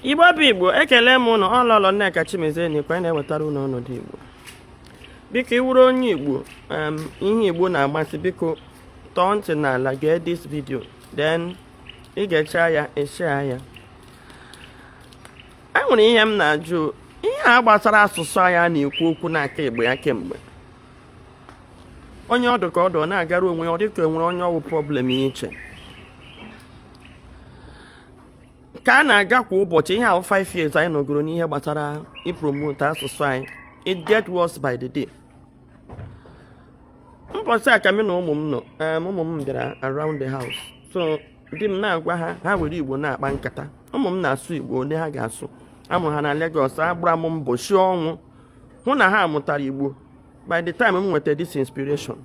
igbo bụ igbo ekele m ụnụ ọ lọlọ nneka chimezie nọkwa na-ewetara ụnụ ọnọdụ igbo biko ị wụrụ onye igbo ihe igbo na-amasị biko tọọ ntị n'ala gee this video then ị gechaa ya eshare ya e nwere ihe m na-ajụ ihe a gbasara asụsụ anyị na-ekwu okwu n'aka igbo ya kemgbe onye ọdụ ka ọdụ ọ na-agara onwe ya ọ dịka enwere onye ọ wụ problem ya iche ka a na-aga kwa ụbọchị ihe a wụ 5 years anyị nọgoro n'ihe gbasara ipromote asụsụ anyị it get worse by the day mbọchị a ka mụ na ụmụ m nọ ụmụ m bịara around the house so di m na-agwa ha ha were igbo na-akpa nkata ụmụ m na-asụ igbo ole ha ga-asụ amụrụ ha na Lagos agbara m mbọ si ọnwụ hụ na ha mụtara igbo by the time m nweta this inspiration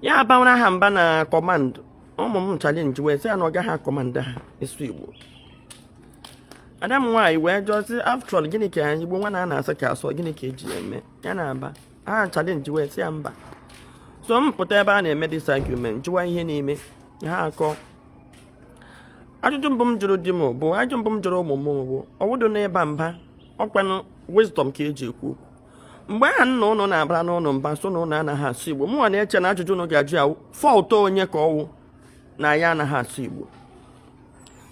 ya abawara ha mba na command ụmụ m challenge wee sị ya na ọ gaghị akọmanda ha ịsụ igbo ada m nwaanyị wee jụọ sị after all gịnị ka anyị igbo nwa na a na-asị ka a sụọ gịnị ka eji eme ya na aba ha challenge wee sị ya mba so m pụta ebe a na-eme this argument jụwa ihe na-eme ha akọọ ajụjụ mbụ m jụrụ di m bụ ajụjụ mbụ m jụrụ ụmụ m bụ ọ wụdụ n'ịba mba ọ kwanụ wisdom ka eji ekwu okwu mgbe ahụ nna ụnụ na-abara ụnụ mba sị na ụnụ anaghị asụ igbo mụnwa na-eche na ajụjụ ụnụ ga-ajụ ya fault onye ka ọ wụ na ya anaghị asụ igbo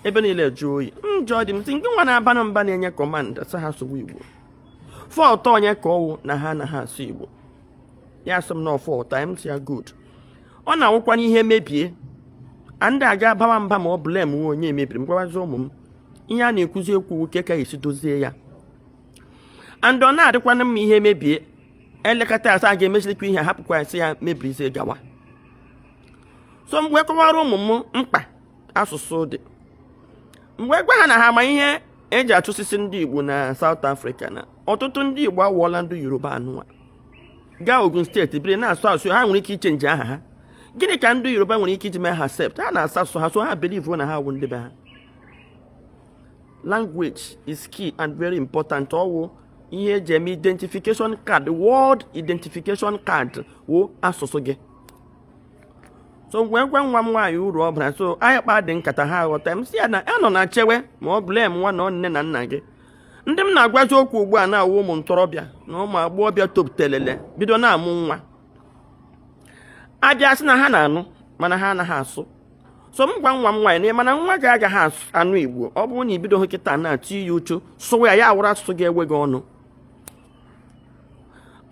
ebe niile jụọ oyi m jụọ di m sị nke nwa na-abanụ mba na-enye command sị ha sụwa igbo fault onye ka ọ wụ na ha anaghị asụ igbo ya sị m na ọ fault anyị m sị ya good ọ na-awụkwanụ ihe mebie ndị aga abawa mba ma ọ blamewe onye mebiri m gwawazi ụmụ m ihe a na-ekwuzi ekwu wụ ka esi dozie ya and ọ na-adịkwanụ mma ihe mebie elekọta asa a ga-emechirikwa ihe hapụkwa esi ya mebiri isi gawa so m wee kọwara ụmụ m mkpa asụsụ dị m wee gwa ha na ha ma ihe eji achụsisi ndị Igbo na South Africa na ọtụtụ ndị Igbo awụọla ndị Yoruba anụwa gaa Ogun state biri na-asụ asụ ha nwere ike ichange aha ha gịnị ka ndị Yoruba nwere ike iji mee ha accept ha na-asụ asụsụ ha so ha believe na ha wụ ndị be ha language is key and very important ọ wụ ihe eji eme identification card world identification card wụ asụsụ gị so m wee gwa nwa m nwaanyị uru ọ bara so anyị kpadị nkata ha aghọta m sị ya na anọna chewe ma ọ blamewanụ nne na nna gị ndị m na-agwazi okwu ugbu a na-awụ ụmụ ntorobịa na ụmụ agbọghọbịa topụtelele bido na-amụ nwa abịa sị na ha na-anụ mana ha anaghị asụ so m gwa nwa m nwaanyị na mana nwa gị agaghị anụ igbo ọ bụrụ na ibidohụ kịta na-etinye uchu sụwa ya ya awụrụ asụsụ ga-ewe gị ọnụ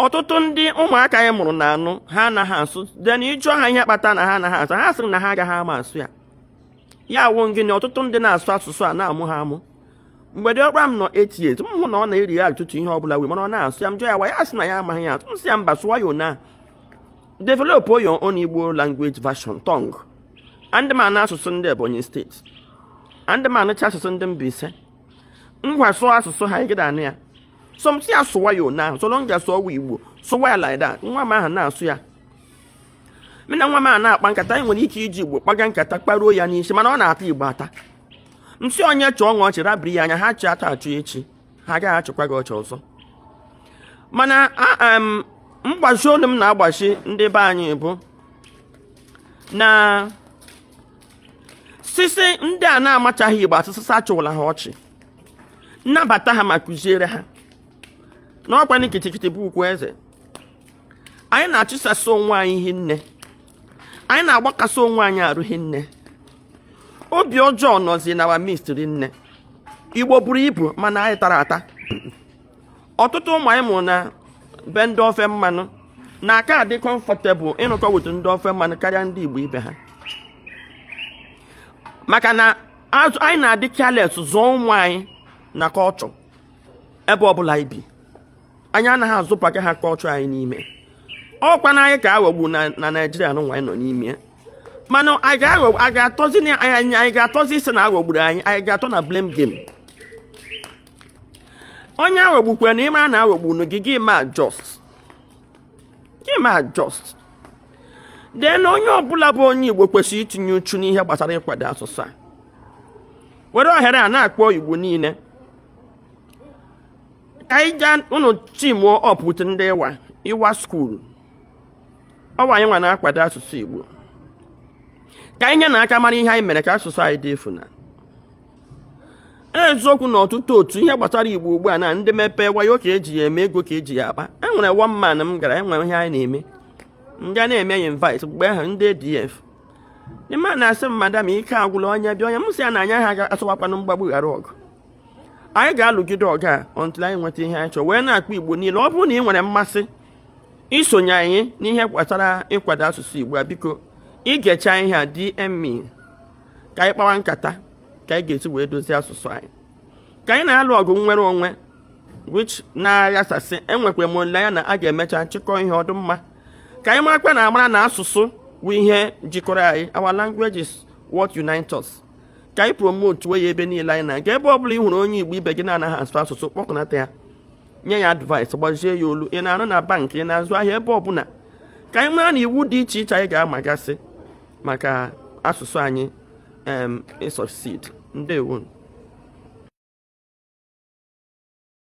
ọtụtụ ndị ụmụaka anyị mụrụ na-anụ ha anaghị asụ then ịjụọ ha ihe kpata na ha anaghị asụ ha sịrị na ha agaghị ama asụ ya ya wụ gịnị ọtụtụ ndị na-asụ asụsụ a na-amụ ha amụ mgbe diọkpa m nọ eight years m hụ na ọ na-eri ya ọtụtụ ihe ọ bụla wee mana ọ na-asụ ya m jụọ ya why ya sị na ya amaghị ya asụ m sị ya mba sụwa ya anyhow Develop your own Igbo language version tongue. Anadịghị m anụ asụsụ ndị Ebonyi State. Anadịghị m anụcha asụsụ ndị Mbaise. Ngwa sụọ asụsụ ha ị gaghị anụ ya. So m sị ya sụwa ya anyhow, so long as ọ wụ Igbo, sụwa ya like that. Nwa m ahụ na-asụ ya. Mụ na nwa m ahụ na-akpa nkata, anyị nwere ike iji Igbo kpaga nkata kparuo ya n'isi, mana ọ na-ata Igbo ata. M sị onye chịa unu ọchị rabiri ya anya ha chịa taa chịa echi. ha agaghị achịkwa gị ọchị ọzọ mana mgbazi olu m na-agbazi ndị be anyị bụ na sisi ndị a na-amachaghị igbo asụsụ achịwala ha ọchị nabata ha ma kụziere ha n'ọkwa na gidigidi bụ ugwu eze anyị na-achụsasị onwe anyị hi nne anyị na-agbakasị onwe anyị arụ hi nne obi ọjọọ nọzi na our midst ri nne igbo buru ibu mana anyị tara ata ọtụtụ ụmụ anyị mụrụ na be ndị ofe mmanụ na-aka adị comfortable ịnụkọ with ndị ofe mmanụ karịa ndị igbo ibe ha maka na anyị na-adị careless zụọ ụmụ anyị na culture ebe ọbụla ibi anyị anaghị azụpụta ha culture anyị n'ime ọkwa na anyị ka aghọgbu na naijiria nwa anyị nọ n'ime mana anyị ga-aghọ anyị ga-atọzi na anyị anyị ga-atọzi ịsị na aghọgburu anyị anyị ga-atọ na blame game onye aghọgbukwe na ịma na aghọgbu unu gị gị eme adjust gị eme adjust then onye ọbụla bụ onye igbo kwesịrị itinye uchu n'ihe gbasara ịkwado asụsụ a were ohere a na-akpọ igbo niile ka anyị gaa unu teamuo up with ndị IWA IWA school ọ wụ anyị nwa na-akwado asụsụ Igbo ka anyị nye na aka mara ihe anyị mere ka asụsụ anyị dị efu na eziokwu na ọtụtụ otu ihe gbasara igbo ugbu a na ndị mepee wayo ka eji ya eme ego ka eji ya akpa e nwere one man m gara enwere ihe anyị na-eme m ga na-eme ya invite mgbe ahụ ndị ADF ndị mmadụ na-asị m madam ike agwụla onye bịa onye m sị ya na anyị agaghị asịwakwanụ mgbagbu ghara ọgụ anyị ga-alụgide ọgụ a until anyị nweta ihe anyị chọrọ wee na-akpọ igbo niile ọ bụrụ na ị nwere mmasị isonye anyị n'ihe gbasara ịkwado asụsụ Igbo a biko i gecha ihe a DM me ka anyị kpawa nkata ka anyị ga-esi wee dozie asụsụ anyị ka anyị na-alụ ọgụ nnwere onwe which na-aghasasị enwekwa m olileanya na a ga-emecha chịkọ ihe ọ dụ mma ka anyị marakwa na amara na asụsụ bụ ihe jikọrọ anyị our language is what unites us ka anyị promotewe ya ebe niile anyị na-aga ebe ọ bụla ị hụrụ onye Igbo ibe gị na-anaghị asụ asụsụ kpọkọnata ya nye ya advice gbazie ya olu ị na-arụ na bank ị na-azụ ahịa ebe ọbụla ka anyị mara na iwu dị iche iche anyị ga-amagasị maka asụsụ anyị ị succeed ndewo